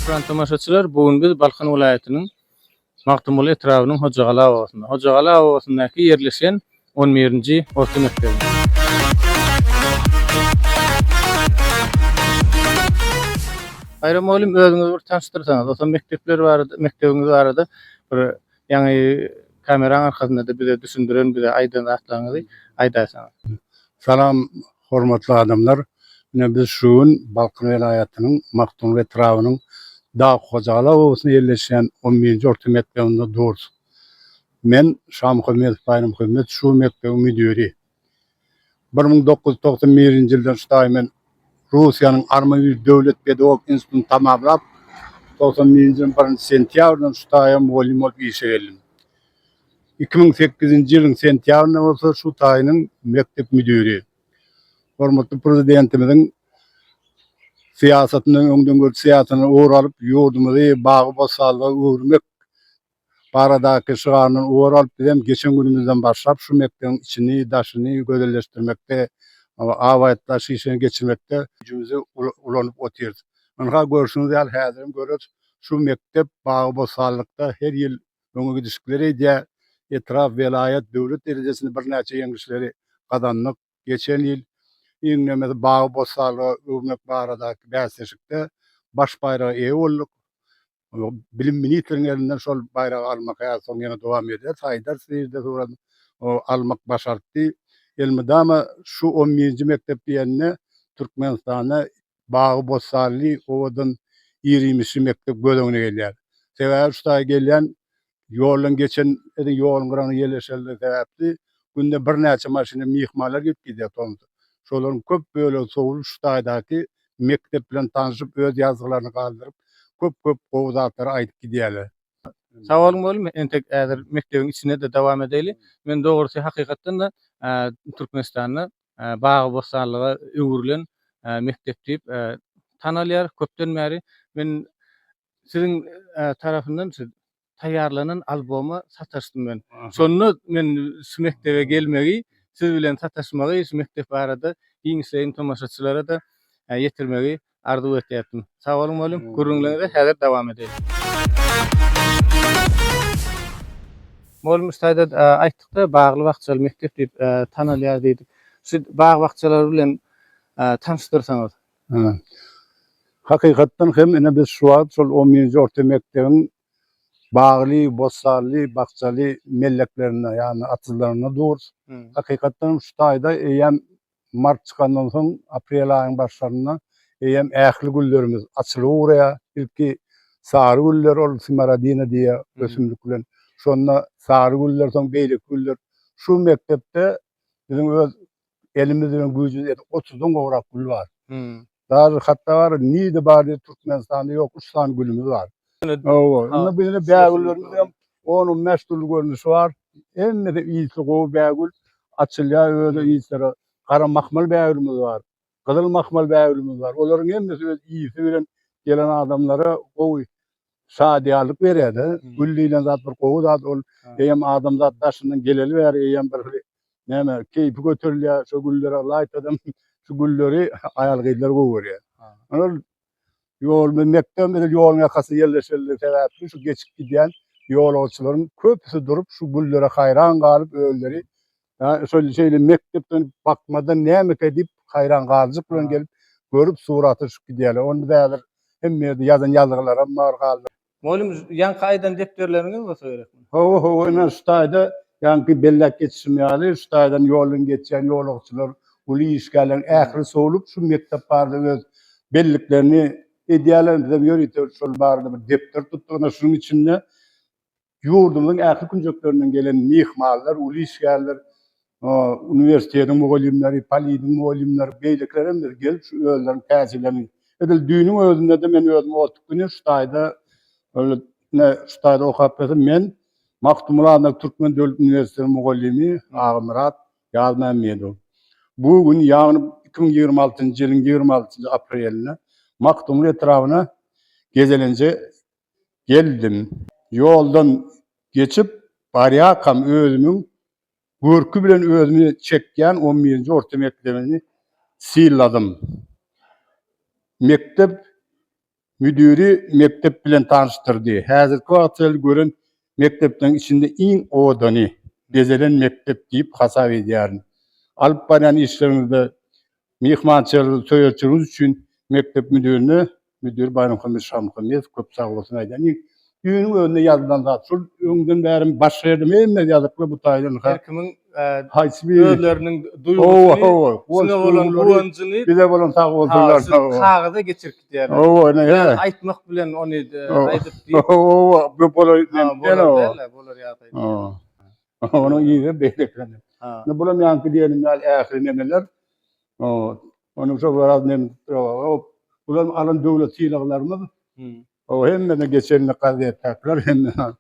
Hökman tomaşaçylar, bu gün biz Balkan welaýatynyň Magtymguly etrabynyň Hojagala obasynda. Hojagala obasyndaky ýerleşen 11-nji orta mekdebinde. Baýram mugallym özüňizi bir tanşdyrsaňyz, otam mekdepler barada, mekdebiňiz barada bir Ýaňy kameraň arkasynda-da bize düşündiren, bize aýdan zatlaryňyzy aýdaýsaňyz. Salam hormatly adamlar. Ine biz şu gün Balkan welaýatynyň Magtymguly etrabynyň Dag Hojaly obasynda ýerleşýän on birinji orta mekdebinde durus. Men Şamuhammedow Baýramhömmet şu mekdebiň müdiri. Bir müň dokuz ýüz togsan birinji ýyldan ştaý men Russiýanyň Armaýuž döwlet pedagogik institutyny tamamlap, togsan birinji ýylyň birinji sentýabryndan ştaýa mugallym bolup işe geldim. Iki müň sekizinji ýylyň sentýabrynda bolsa şu taýynyň mekdep müdiri, hormatly Prezidentimiziň syýasatyndan, öňdengörüji syýasatyndan ugur alyp, ýurdumyzy bagy-bossanlyga öwürmek baradaky şygaryndan ugur alyp, biz hem geçen günümizden başlap şu mekdebiň içini, daşyny gözelleşdirmekde, abaýatlaýyş işlerini geçirmekde güýjümizi ulanyp otyrys. Ynha, görşüňiz ýaly, häzir hem görüris, şu mekdep bagy-bossanlykda her ýyl öňe gidişikleri edýär. Etrap, welaýat, döwlet derejesinde birnäçe ýeňişleri gazandyk. Geçen ýyl iňňemesi bagy-bossanlyga öwürmek baradaky bäsleşikde baş baýraga eýe bolduk. Bilim ministriň elinden şol baýragy almak häzir soň ýene dowam edýär. Saýdar Sirde surat almak başartdy. Elmydama şu on birinji mekdep diýende Türkmenistanda bagy-bossanly, owadan, ir-iýmişli mekdep göz öňüne gelýär. Sebäbi şu taýy gelýän Ýoldan geçen edil ýoluň gyragyna ýerleşenligi sebäpli günde birnäçe maşyna myhmanlar gelip gidýär Tomsa. Şolaryň köp bölegi sowlup şu taýdaky mekdep bilen tanşyp öz ýazgylaryny galdyryp köp köp gowy zatlary aýdyp gidýärler. Sag boluň bolum entek häzir mekdebiň içinde-de dowam edeli. Men dogrusy hakykatdan-da Türkmenistanda bagy bossanlyga öwrülen mekdep diýip tanalýar köpden bäri. Men siziň tarapyndan şu taýýarlanan albomy sataşdym men. Şonda men şu mekdebe gelmegi, siz bilen sataşmagy, şu mekdep barada giňişleýin tomaşaçylara-da ýetirmegi arzuw etýärdim. Sag boluň mugallym, gürrüňleriňize häzir dowam edeýin. Mugallym biz taýda aýtdyk-da, bagly-bakjaly mekdep diýip tanalýar diýdik. Şu bag-bakjalar bilen tanyşdyrsaňyz. Hakykatdan hem, ine, biz şu wagt şol on birinji orta mekdebiň bagly, bossanly, bakjaly melleklerinde, ýagny atyzlarynda durus. Hakykatdan hem, şu taýda eýýäm mart çykandan soň, aprel aýyň başlarynda eýýäm ähli güllerimiz açylyp ugraýar. Ilki sary güller, ol smaradina diýýär ösümlik bilen. Şonda sary güller, soň beýleki güller. Şu mekdepde biziň öz Elimiz bilen güýjümiz ýetip otuzdan gowrak gül bar. Daža hatda bar, nirde bar diýip Türkmenistanda ýok, üç sany gülümiz bar. Hawa, indi bu ýene bägüllerimiz hem onuň bäş dürli görnüşi bar. Hemmesi ysy gowy bägül, açylýar özi ysy. Gara mahmal bägülimiz bar, gyzyl mahmal bägülimiz bar. Olaryň hemmesi öz ysy bilen gelen adamlara gowy Şadyýarlyk berýärde. Gül diýlen zat bir gowy zat ol. Eýýäm adamzat daşyndan geleli bäri eýýäm bir hili näme keýpi göterilýär. Şo güllere laýtadam şu gülleri aýal-gyzlar gowy görýär. Ol ýol bilen mekdebem edil ýoluň ýakasynda ýerleşenligi sebäpli şu geçip gidýän ýolagçylaryň köpüsi durup şu güllere haýran galyp özleri Şol şeýle mekdepden, bakmadan nämeka diýip, haýran galyjyk bilen gelip, görüp, surat alyşyp gidýärler. Ony biz häzir hemme ýerde ýazan ýazgylaram bar galdy. Mugallym, ýaňky aýdan depderleriňiz bolsa gerek muny? Hawa, hawa, ine, şu taýda, ýaňky belläp geçişim ýaly, şu taýdan ýoldan geçýän ýolagçylar, uly işgärleriň ähli sowlup, şu mekdep barada öz belliklerini edýärler. Bizem ýörite şol barada bir depder tutduk. Ine, şunuň içinde ýurdumyzyň ähli künjeklerinden gelen myhmanlar, uly işgärler, uniwersitetiň mugallymlary, poliniň mugallymlary, beýlekiler hem gelip şu özleriniň täjirlerini, edil düýnüň özünde-de men özüm otug güni şu taýda öl ne şu taýda okap bilesim men Magtymguly adyndaky Türkmen döwlet uniwersitetiniň mugallymy Agamyrat Ýazmämmedow. Bu gün ýagny iki müň ýigrimi altynjy ýylyň ýigrimi altynjy aprelinde Magtymguly etrabyna gezelenje geldim. Ýoldan geçip barýarkam özümiň görki bilen özümi çekýän on birinji orta mekdebini syladym. Mekdep müdiri mekdep bilen tanyşdyrdy. Häzirki wagta çenli gören mekdepleriň içinde iň obadany, bezelen mekdep diýip hasap edýärin. Alyp barýan işleriňizde Myhmançylygy töretdigiňiz üçin mekdep müdirine müdir Baýramhammet Şamuhammedow köp sagbolsun aýdaýyn. Düýnüň özünde ýazylan zat şul. Öňden bäri başga ýerde hemme ýazyplar bu taýdan. Her kimiň haýsy bir özleriniň duýgusyny, size bolan guwanjyny bize bolan sagbolsunlar. Siz kagyza geçirip gidýärler. Aýtmak bilen ony aýdyp diýip. Hawa, hawa, bu bolar ýagdaý. Onuň yzy beýle ekeni. Indi bulam ýaňky diýenim ýaly ähli neneler. Onuň üçin biraz men bulam alan döwlet sylaglarymyz. O hemmeden geçenini gazetdakylar hemmeden.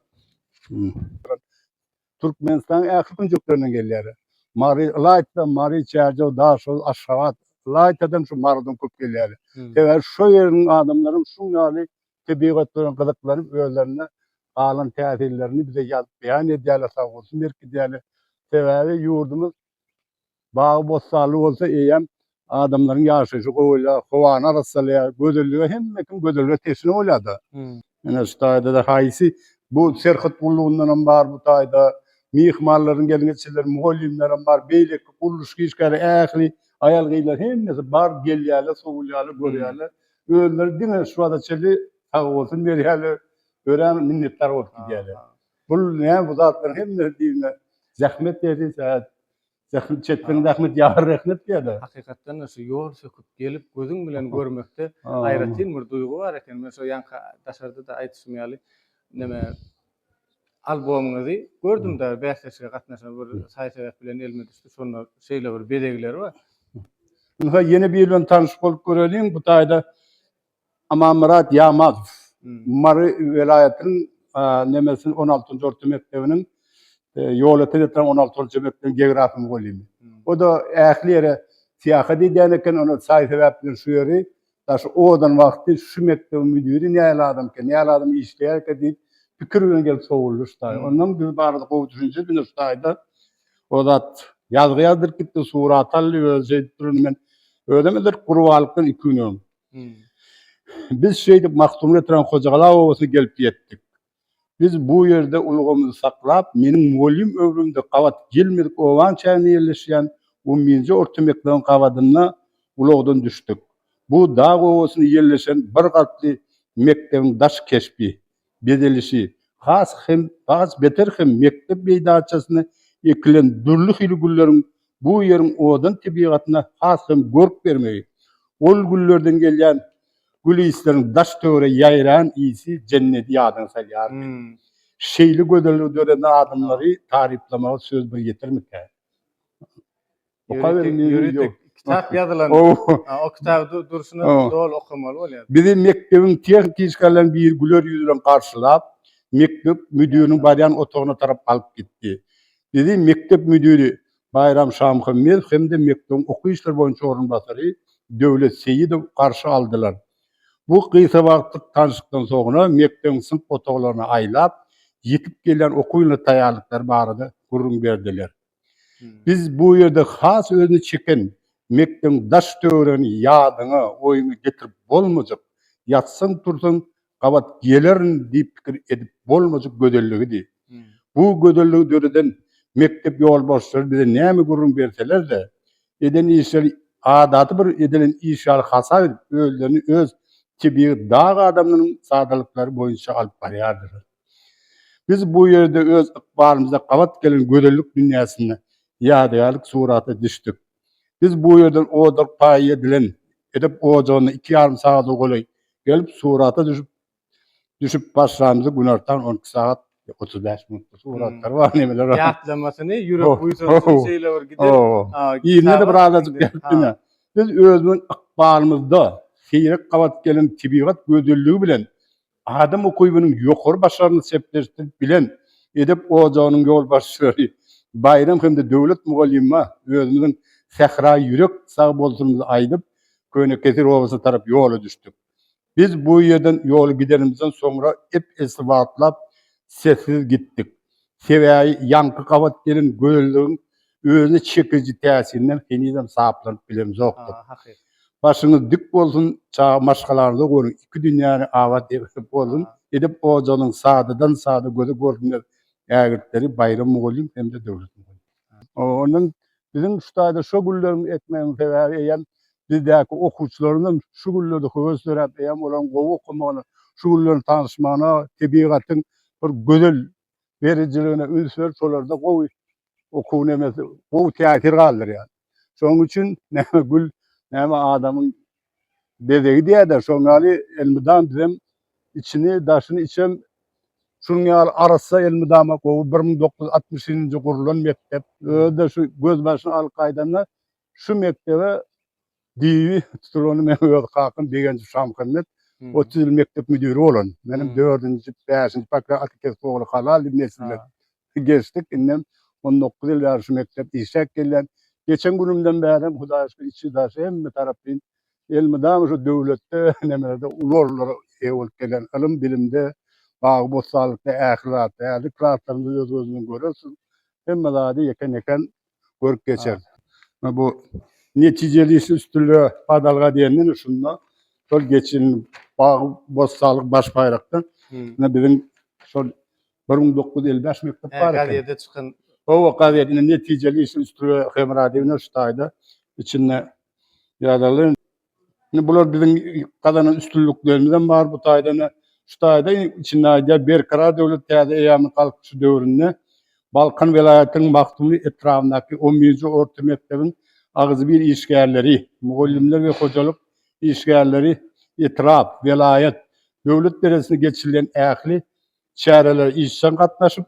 Türkmenistanyň ähli künjeklerinden gelýärler. Mary ylaýta Mary, Çärjew, Daşoguz, Aşgabat ylaýtadan şu Marydan köp gelýärler. Sebäbi şo ýeriň adamlaram şuň ýaly tebigat bilen gyzyklanyp özlerinde galan täsirlerini bize ýazyp beýan edýärler sagbolsun berkidýärler sebäbi ýurdumyz bagy bossanly bolsa eýýäm adamlaryň ýaşaýşy gowalýar howany arassalaýar gözellige hemme kim gözellige teşne bolýarda ine şu taýdada haýsy bu serhet gullugyndanam bar bu taýda myhmanlaryň gelin geçirileri mugallymlaram bar beýleki gurluşyk işgäri ähli aýal gyzlar hemmesi bar gelýärler sowulýarlar görýärler Özleri diňe şu wagta çenli sag bolsun berýärler, örän minnetdar bolup gidýärler. Bul näme bu zatlaryň hemmesi diýdiňä zähmet däl-de saz. Zähmet çekseň zähmet ýagar rehnet diýýärler. Hakykatdan-da şu ýol söküp gelip gözüň bilen görmekde aýratyn bir duýgy bar eken. Men şo ýaňky daşarda-da aýdyşym ýaly neme Albomyňyzy gördüm dagy bäsleşige gatnaşan bir saý sebäp bilen elime düşdi şonda şeýle bir bezegleri bar. Ynha ýene biri bilen tanyş bolup göreliň bu taýda Amanmyrat Ýamazow Mary welaýatynyň nemesiniň on altynjy orta mekdebiniň ýola seretseň on alty orta mekdebiň geografy mugallymy. O da ähli ýere syýahat edýän eken ony saý sebäp bilen şu ýeri Daş owadan wagty şu mekdebiň müdiri näl adamka, näl adam işleýärkä diýip pikir bilen gelip sowuldy şu taýy. Ondan biz barada gowy düşünje edindi şu taýda. O zat ýazgy ýazdyryp gitdi, surat aldy, özi şeýdip durundy. Men özem edil gurbalykdan iki gün öň. Biz şeýdip Magtymguly oturan Hojagala obasyna gelip ýetdik. Biz bu ýerde ulgamyzy saklap, meniň mugallym öwrümde gabat gelmedik obaň çäginde ýerleşýän on birinji orta mekdebiň gabadynda ulagdan düşdük. Bu dag obasynda ýerleşen bir gatly mekdebiň daş keşbi, bezelişi has hem has beter hem mekdep meýdançasynda ekilen dürli hili gülleriň bu ýeriň owadan tebigatyna has hem görk bermegi, ol güllerden gelýän Gül ysleriň daş-töwere ýaýran ysy jenneti ýadyňa salýar. Şeýle gözelligi döreden adamlary taryplamaga söz bir ýetermikä? Ýöritek kitap ýazylan. O kitaby durşuna doly okamaly bolýar. Bizi mekdebiň tehniçkalarynyň biri güler ýüz bilen garşylap, mekdep müdiriniň barýan otagyna tarap alyp gitdi. Bizi mekdep müdiri Baýram Şamuhammedow hem-de mekdebiň okuw işleri boýunça orunbasary Döwlet Seýidow garşy aldylar. Bu gysga wagtlyk tanşlykdan soňra mekdebiň synp otaglaryna aýlap, ýitip gelýän okuw ýylyna taýýarlyklary barada gürrüň berdiler. Biz bu ýerde has özüni çeken mekdebiň daş-töweregini ýadyňa, oýuňa getirip bolmajak, ýatsaň-tursaň gabat gelerin diýip pikir edip bolmajak gözelligidi. Bu gözelligi döreden mekdep ýolbarslary bize näme gürrüň berseler-de, eden işleri adaty bir edilen iş ýaly hasap edip, özlerini öz tebigy dag adamlarynyň sadalyklary boýunça alyp barýardylar. Biz bu ýerde öz ykbalymyza gabat gelen gözellik dünýäsinde ýadygärlik surata düşdük. Biz bu ýerden ojak paýy edilen edep ojagyna iki ýarym sagada golaý gelip, surata düşüp düşüp başlamyzy günortan on iki sagat otuz bäş minutda suratlar bar nemeler bar. Ýatlamasyny ýürek buýsansyn şeýle bir gidip. Ýerine-de bir azajyk gelip diňe. Biz özümiň ykbalymyzda seýrek gabat gelen tebigat gözelligi bilen Adam ukybynyň ýokary başaryny sepleşdirip bilen edep ojagynyň ýolbaşçylary Baýram hem-de Döwlet mugallyma özümiziň sähra ýürek sagbolsunymyzy aýdyp, Könekeser obasyna tarap ýola düşdük. Biz bu ýerden ýoly gidenimizden soňra ep-esli wagtlap sessiz gitdik. Sebäbi ýaňky gabat gelen gözelligiň özüne çekiji täsirinden henizem saplanyp bilemzokdyr. Başyňyz dik bolsun, çaga maşgalaňyza görüň, iki dünýäni abat edip bolsun, edep ojagynyň sadadan-sada göze görünmez ägirtleri Baýram mugallym hem-de Döwlet mugallym. Ondan biziň şu taýda şo gülleri ekmegiň sebäbi eýýäm bizdäki okuwçylarymyzyň şu güllerde höwes döräp, eýýäm olaryň gowy okamagyna, şu gülleriň tanyşmagyna, tebigatyň bir gözel berijiligine üns berip, şolarda gowy okuw nemesi, gowy täsir galdyrýar. Şonuň üçin näme gül, näme adamyň Bezegi diýerler, şoň ýaly elmydam bizem içini, daşyny içem şunuň ýaly arassa elmydama gowy bir müň dokuz ýüz altmyş nji gurlan mekdep. Özi-de şu gözbaşyny alyp gaýdanda şu mekdebe DIY tutulany men öz kakam Begenjow Şamuhammet otuz ýyl mekdep müdiri bolan. Menem dördünji, bäşinji, Bakra Atakesip ogly Halal diýip nesilden. Geçdik, indem on dokuz ýyl bäri şu mekdep işläp gelýän. Geçen günümden bärem, Hudaýa şükür, içi-daşy hemme taraplaýyn elmydama şu döwletde, nemelerde uly orunlara eýe bolup gelýän. Ylym-bilimde, bagy-bossanlykda, ähli zatda. Häzirki zatlarymyzy öz gözüňiz bilen görersiň. Hemme zady ýekän-ýekän görüp geçer. Ha, bu netijeli iş üstünlige badalga diýenden şunda şol geçen bagy bossanlyk baş baýrakda ine biziň şol bir müň dokuz ýüz elli bäş mekdep bar eken. Gazete çykan. Oba gazet ine netijeli iş üstünlige hemra diýip şu taýda içinde ýazaly. Indi bular biziň gazanan üstünliklerimiz hem bar bu taýdan-da. Şu taýda içinde aýdýar, Berkarar döwlet täze eýýamyň Galkynyşy döwründe Balkan welaýatynyň Magtymguly etrabyndaky on birinji orta mekdebiň agzybir işgärleri, mugallymlar we hojalyk işgärleri etrap, welaýat, döwlet derejesinde geçirilen ähli çärelere işjeň gatnaşyp,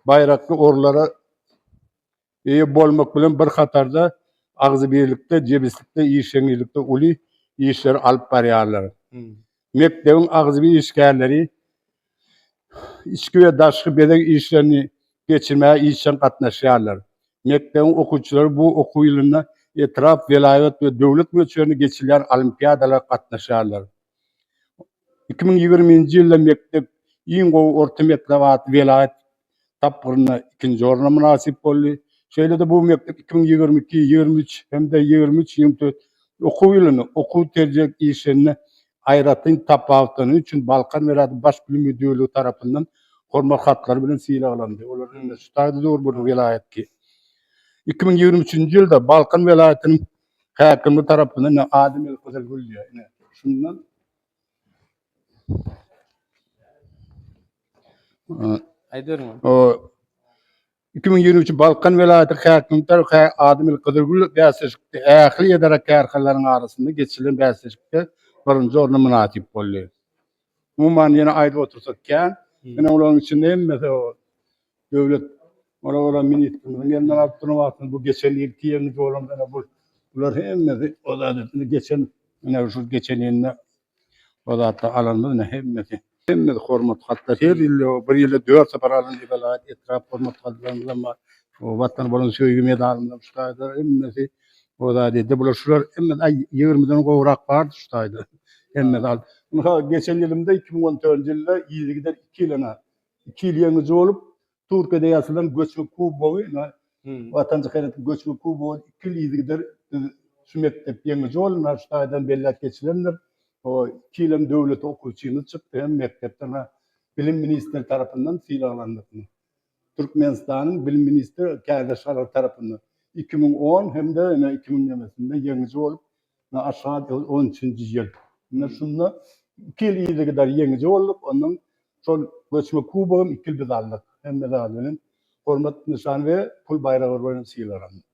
baýrakly orunlara eýe bolmak bilen bir hatarda agzybirlikde, jebislikde, işeňňilikde uly işleri alyp barýarlar. Mekdebiň agzybir işgärleri içki we daşky bezeg işlerini geçirmäge işjeň gatnaşýarlar. Mekdebiň okuwçylary bu okuw ýylynda etrap, welaýat we döwlet möçberinde geçirilýän olimpiadalara gatnaşýarlar. Iki müň ýigrimi birinji ýylda mekdep Iň gowy orta mekdep atly welaýat tapgyrynda ikinji orna mynasyp boldy. Şeýle-de bu mekdep iki müň ýigrimi iki, ýigrimi üç hem-de ýigrimi üç, ýigrimi dört okuw ýylynda okuw terjek işlerinde aýratyn tapawutlany üçin Balkan welaýaty Baş bilim müdirligi tarapyndan Hormat hatlary bilen sylaglandy. Olaryň indi şu taýda dur bir welaýatky. Iki müň ýigrimi üçünji ýylda Balkan welaýatynyň häkimi tarapyndan Adem Elkysel Gülýe. Ine, şundan Iki müň ýigrimi üçi Balkan welaýatynyň häkimi Hä Ademir Gyzylgül bäsleşikde ähli edara-kärhanalaryň arasynda geçirilen bäsleşikde birinji orna mynasyp boldy. Umuman ýene aýdyp otursak kän. Ine olaryň içinde hemmesi Döwlet Ora Ora ministrimiziň elinden alyp duran wagtynda bu geçen ýylky ýeňiji bolan ýene bu bular hemmesi o zat etmedi. Geçen ýene şu geçen ýylda o zatda alanymyz ýene hemmesi. Hemmesi hormat hatlar her ýyl ýok bir ýylda dört sapar alyndy welaýat etrap hormat hatlarymyzam bar. O Watana bolan söýgi medalymyzam şu taýda hemmesi o zat edýär. Bular şular hemmesi aý ýigrimiden gowrak bardy şu taýda hemmesi al. Mysal geçen ýylymda iki müň on dördünji ýylda yzygider iki ýylyna iki ýyl ýeňiji bolup, Türkiýede ýasalan göçme kubogy, Watançy Haýratyň göçme kubogy iki ýyl yzygider biz şu mekdep ýeňiji boldy. Şu taýdan belläp geçilendir. Iki ýylam döwlet okuwçymyz çykdy hem mekdepden Bilim ministri tarapyndan sylaglandyk. Türkmenistanyň Bilim ministri Kärdeş Aral tarapyndan iki müň on hem-de iki müň ýeňiji bolup, Nä aşgad ol on üçünji ýyl. Ine şunda iki ýyl yzygider ýeňiji bolduk. Ondan şol göçme kubogam iki ýyl biz aldyk. Hemme zat bilen hormat nyşany we pul baýragy bilen sylalandyk.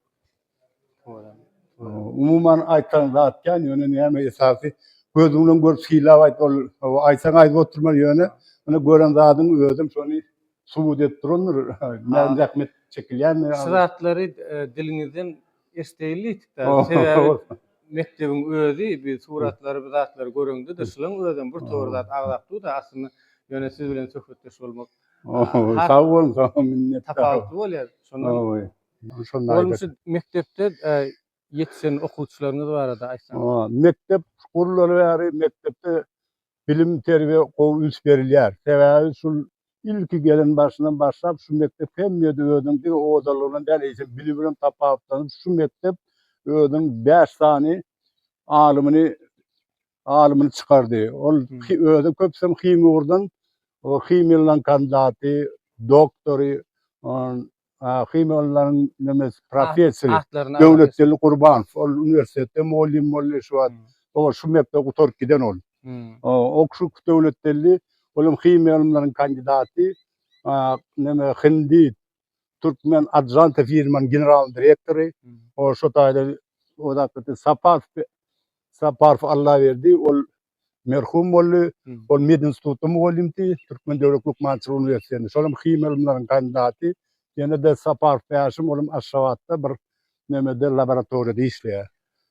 Umuman aýtan zat kän, ýöne näme esasy gözüň bilen görüp sylap aýt. Ol aýtsaň aýdyp oturma ýöne ine gören zadyň özem şony subut edip durandyr. Näme zähmet çekilýändigini. Şu zatlary diliňizden Estegli ýetik däl. Sebäbi mekdebiň özi biz suratlary bir zatlary göreňde-de şulaň özem bir tor zat agzap dur-da aslynda ýöne siz bilen söhbetdeş bolmak has Sag boluň saňa minnetdar. Tapawutly bolýar. Şondan Bolmuşy mekdepde ýetişen okuwçylaryňyz barada aýtsaňyz. Mekdep gurulaly bäri mekdepde Bilim terbiýe gowy üns berilýär. Sebäbi şul ilki gelen başyndan başlap şu mekdep hemýede özüniň diňe owadanlygyndan däl eýsem bilimi bilen tapawutlanyp şu mekdep özüniň bäş sany alymyny alymyny çykardy. Ol özem köpüsem himiýa ugurdan himiýa lan kandidaty, doktory, Akim ollaryň nemes professori. Atlaryny. Döwletgeldi Gurbanow. Ol uniwersitetde mugallym boldy şu wagt. O şu mekdebi gutaryp giden ol. O şu Döwletgeldi olam himiýa ylymlaryň kandidaty. Neme hindi, türkmen Ajanta firmanyň general direktory. O şu taýda Saparov Saparov Allaberdi ol merhum boldy. Ol medinstitutda mugallymdy, Türkmen döwlet lukmançylyk uniwersitetinde, şolam himiýa ylymlarynyň kandidaty. Ýene-de Saparow Bäşim, olam Aşgabatda bir nämede, laboratoriýada işleýär.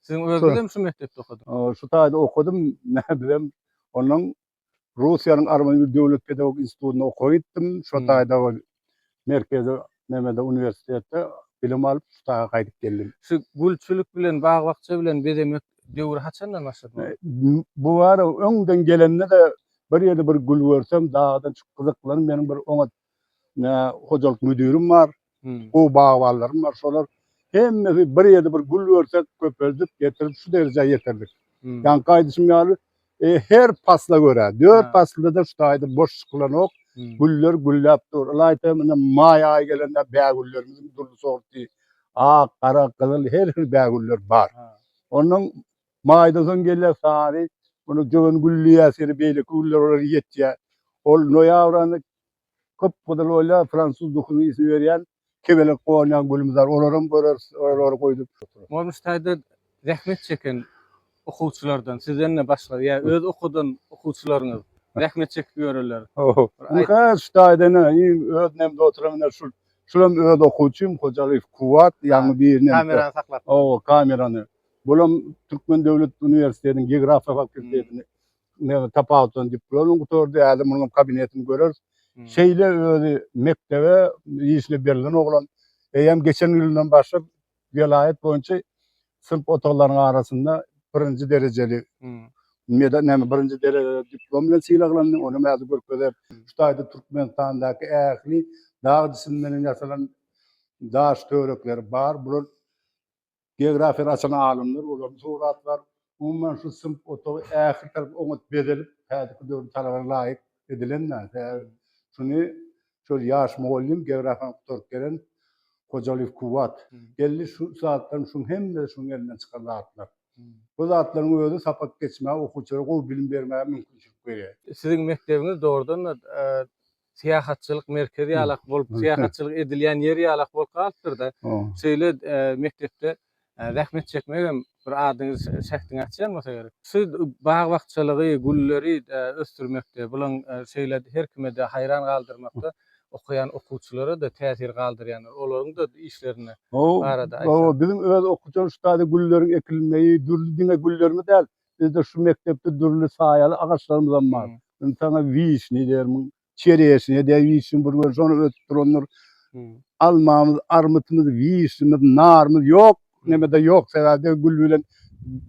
Siziň özüňizem şu mekdepde okadyňyz? Şu taýda okadym. Bizem onnoň Russiýanyň Arwanyň döwlet pedagogik institutynda okap gitdim. Şo taýda merkezi nemede uniwersitetde bilim alyp şu daga gaýdyp geldim. Şu gülçülik bilen bag-bakja bilen bezemek döwri haçandan başlady muny? Bu bara öňden gelende-de bir ýerde bir gül görsem dagdan çykyp gyzyklanyn meniň bir oňat nä hojalyk müdirim bar. Gowy bagbanlarym bar. Şolar hemmesi bir ýerde bir gül görsek köpeldip getirip şu derejä ýetirdik. Ýaňky aýdyşym ýaly E, her pasla görä, dört Ha. paslda-da şu taýda boş çykylanok. Hmm. Güller gülläp dur. Ylaýta indi maý aýy gelende bägüllerimiziň dürli sorty, ak, gara, gyzyl, her hil bägüller bar. Ha. Ondan maýdan soň gelýär sary, muny jöwen gülleýär, seni beýleki güller olar ýetýär. Ol noýabr aýynda gyp-gyzyl bolýar, fransuz duhunyň ysy berýän, kebelek gonýan gülümizar, olaram göreris, olary goýdup. Bolmuş taýda zähmet çeken okuwçylardan, sizden-de başga, ýa öz okudan okuwçylaryňyz zähmet çekip ýöreler. Ynha, şu taýda ine, iň öz nemde oturan ine şul, şulam öz okuwçym, Hojalyýew Kuwwat, ýaňy birini. Kamerany saklapdyr. Hawa, kamerany. Bulam Türkmen döwlet uniwersitetiniň geografiýa fakultetini men tapawutdan diplomyny gutardy, häzir munuň kabinetini göreris. Hmm. Şeýle özi mekdebe işine berlen oglan. Eýem geçen ýyldan başlap welaýat boýunça synp otaglarynyň arasynda birinji derejeli hmm. meda näme birinji derejeli diplom bilen sylaglandy. Ony mäzi görkezer. Şu taýda Türkmenistandaky ähli dag cisimlerinden ýasalan daş törekleri bar. Bular Geografiýany açan alymlar, olaryň suratlar, umuman şu synp otagy ähli tarap oňat bezelip, häzirki döwrüň talabana laýyk edilen da. Sebäbi şuny şol ýaş mugallym, geografiýany gutaryp gelen Hojalyýew Kuwwat geldi, şu zatlaryň şuň hemmesi şuň elinden çykan zatlar. Bu zatlaryň özi sapak geçmäge, okuwçylara gowy bilim bermäge mümkinçilik berýär. Siziň mekdebiňiz dogrudan-da syýahatçylyk merkezi ýalak bolup, syýahatçylyk edilýän ýer ýalak bolup galypdyr-da. Şeýle mekdepde zähmet çekmek hem bir adyňyz şähdiňi açýan bolsa gerek. Şu bag-bakjalygy, gülleri ösdürmekde, bulaň şeýle her kime-de haýran galdyrmakda okaýan okuwçylara-da täsir galdyrýandyr. Olaryň-da işlerini barada aýtsaň. Hawa, biziň öz okuwçymyz şu taýda gülleriň ekilmegi, dürli diňe güllermi däl, Bizde şu mekdepde dürli saýaly agaçlarymyzam bar. Indi saňa wişni dermiň, çereşnýa diýen wişni bir görse, ony ösüp durandyr. Almamyz, armytymyz, wişnimiz, narymyz ýok. Neme-de ýok, sebäbi-de gül bilen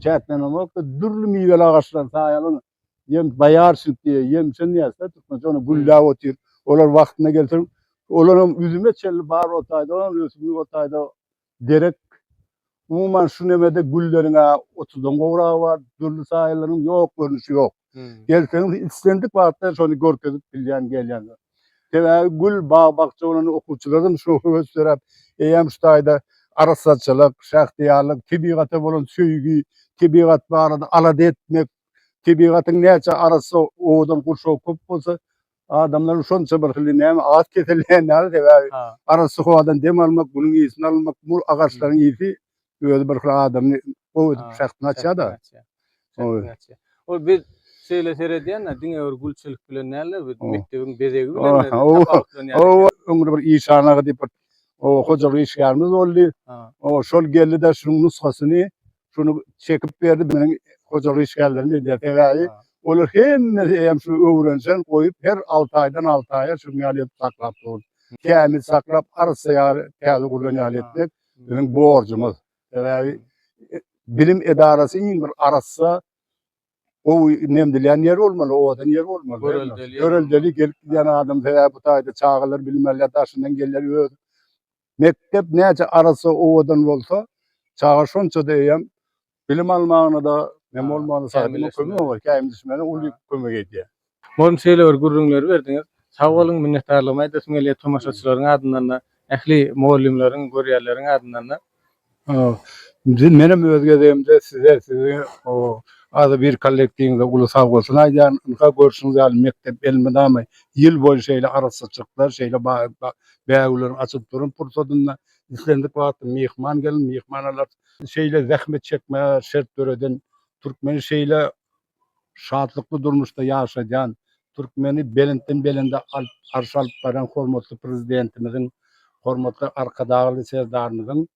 çäklenenokda. Dürli miweli agaçlar, saýaly ýem, boýarçnik diýýär, ýemçen diýýäris-dä türkmençe, ony gülläp otyr. Olar wagtynda gelse, olar hem üzüme çenli bar o taýda, olam ösümlik o taýda. derek umuman şu nemede gülleriň-ä otuzdan gowragy bar, dürli saýylaryň ýok görnüşi ýok. Gelseňiz islendik wagtda şony görkezip bilýän gelýänler. Sebäbi gül bag-bakja bolan okuwçylardan şu höwes döräp, eýýäm şu taýda arassaçylyk, şähdiýarlyk, tebigata bolan söýgi, tebigat barada alada etmek, tebigatyň näçe arassa owadan gurşawy köp bolsa, Adamlaryň şonça bir hili näme at keselleýän ýaly sebäbi arassa howadan dem almak, günüň ysyny almak, mul agaçlaryň ysy özi bir hili adamy gowy edip şähdini açýar-da. Ol biz şeýle seredýän-de diňe bir gülçilik bilen däl-de biz mekdebiň bezegi bilen tapawutlanýar. Oba öňde bir işan aga diýip bir hojalyk işgärimiz boldy. Oba şol geldi-de şunuň nusgasyny şuny çekip berdi meniň hojalyk işgärlerim edýär sebäbi olar hemmesi eýýäm şu öwrenişen goýup her alty aýdan alty aýa şuň ýaly edip saklap dur kämil saklap arassa ýaly täze gurlan ýaly etmek biziň borjumyz sebäbi bilim edarasy iň bir arassa gowy nemdilýän ýer bolmaly owadan ýer bolmaly göreldeli göreldeli gelip gidýän adam sebäbi bu taýda çagalar bilim alýar daşyndan gelýär öz Mekdep näçe arassa, owadan bolsa, çaga şonça-da eýýäm bilim almagyna-da, näme bolmagyna-da, saýlamak kömek bolýar, käýim düşmäne uly kömek edýär. Mugallym şeýle bir gürrüňleri berdiňiz. Sag boluň, minnetdarlygymy aýdasym gelýär tomaşaçylaryň adyndan-da, ähli mugallymlaryň, görýärleriň adyndan-da. A, Indi menem öz gezegimde size, siziň o adybir kollektiwiňize uly sagbolsun aýdýan. Ynha, görşüňiz ýaly, mekdep elmydama ýyl boýy şeýle arassaçylyklar, şeýle ba ba bägüleri açylyp duran pursadynda islendik wagtda myhman gelin, myhman alar. Şeýle zähmet çekmäge şert döreden türkmeni şeýle şatlykly durmuşda ýaşadýan türkmeni belentden-belende arşa alyp barýan hormatly Prezidentimiziň, hormatly Arkadagly Serdarymyzyň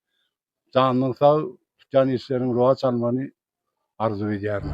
janyň sag, tutýan işleriň rowaç almagyny arzuw edýärin.